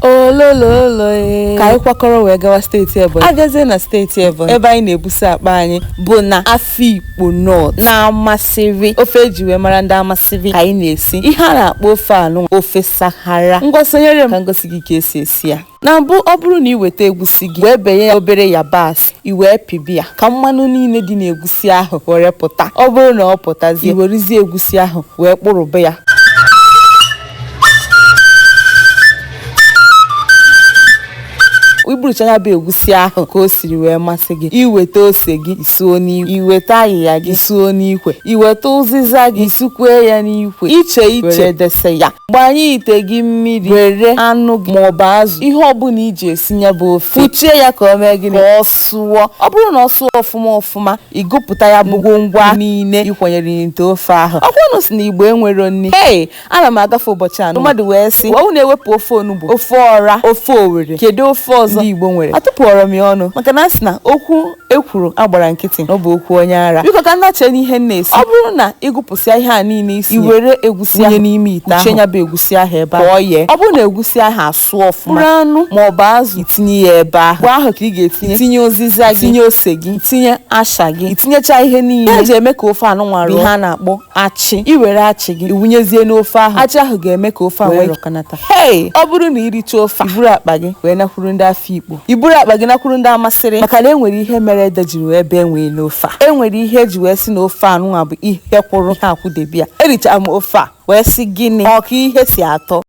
olololo ee. ka anyị kwakọrọ wee gawa steeti ebonyi abịazie na steeti ebonyi ebe anyị na-ebusa akpa anyị bụ na afikpo north na amasịrị ofe eji wee mara ndị amasịrị ka anyị na-esi ihe a na-akpọ ofe anụ ofe sarara ngwa sonyere m ka m gosi gị ka esi esi ya na mbụ ọ bụrụ na ị weta egusi gị wee benye ya obere yabasị i wee pịbe ya ka mmanụ niile dị n'egusi ahụ were pụta ọ bụrụ na ọ pụtazie i werezie egusi ahụ wee kpụrụbe ya ịkpụrụcha ya bụ egusi ahụ ka o siri wee masị gị iweta ose gị isuo n'ikwe iweta ayịya gị isuo n'ikwe iweta ụzịza gị sukwee ya n'ikwe iche iche were dese ya gbanye ite gị mmiri were anụ gị maọbụ azụ ihe ọbụla iji esi ya bụ ofe kpuchie ya ka o mee gịnị ka ọ sụọ ọ bụrụ na ọ sụọ ọfụma ọfụma ịgụpụta ya bụ ngwongwo ahụ niile ịkwanyere n'ite ofe ahụ ọkwa unu sị na igbo enwero nni ee ana m agafe ụbọchị ahụ mmadụ wee sị ọ bụrụ na ewepụ ofe onugbu ofe ọra ofe owere kedu ofe ọzọ ndị igbo nwere atụpụọrọ m ya ọnụ maka na a sị na okwu ekwuru agbara nkịtị na ọ bụ okwu onye ara biko ka m nachie n'ihe m na-esi ọ bụrụ na ịgụpụsịa ihe a niile isi i were egusi ahụ n'ime ite ahụ ya bụ egusi ahụ ebe ahụ ọ yee ọ bụrụ na egusi ahụ asụọ ọfụma ikporo anụ ma ọ bụ azụ itinye ya ebe ahụ mgbe ahụ ka ị ga-etinye tinye ụzịza gị tinye ose gị tinye asha gị itinyecha ihe niile eji eme ka ofe anụnwa rọọ ihe a na-akpọ achị i were achị gị iwunyezie n'ofe ahụ achị ahụ ga-eme ka ofe ahụ wee rọkọnata hei ọ bụrụ na iricha ofe a iburu akpa gị wee nakwuru ndị afikpo iburu akpa gị nakwuru ndị amasịrị maka na enwere ihe mere ede jiri wee bee nwịị n'ofe a enwere ihe eji wee sị na ofe anụnwa bụ ihe kwụrụ ihe akwụdebe ya ericha m ofe a wee sị gịnị ọ ka ihe si atọ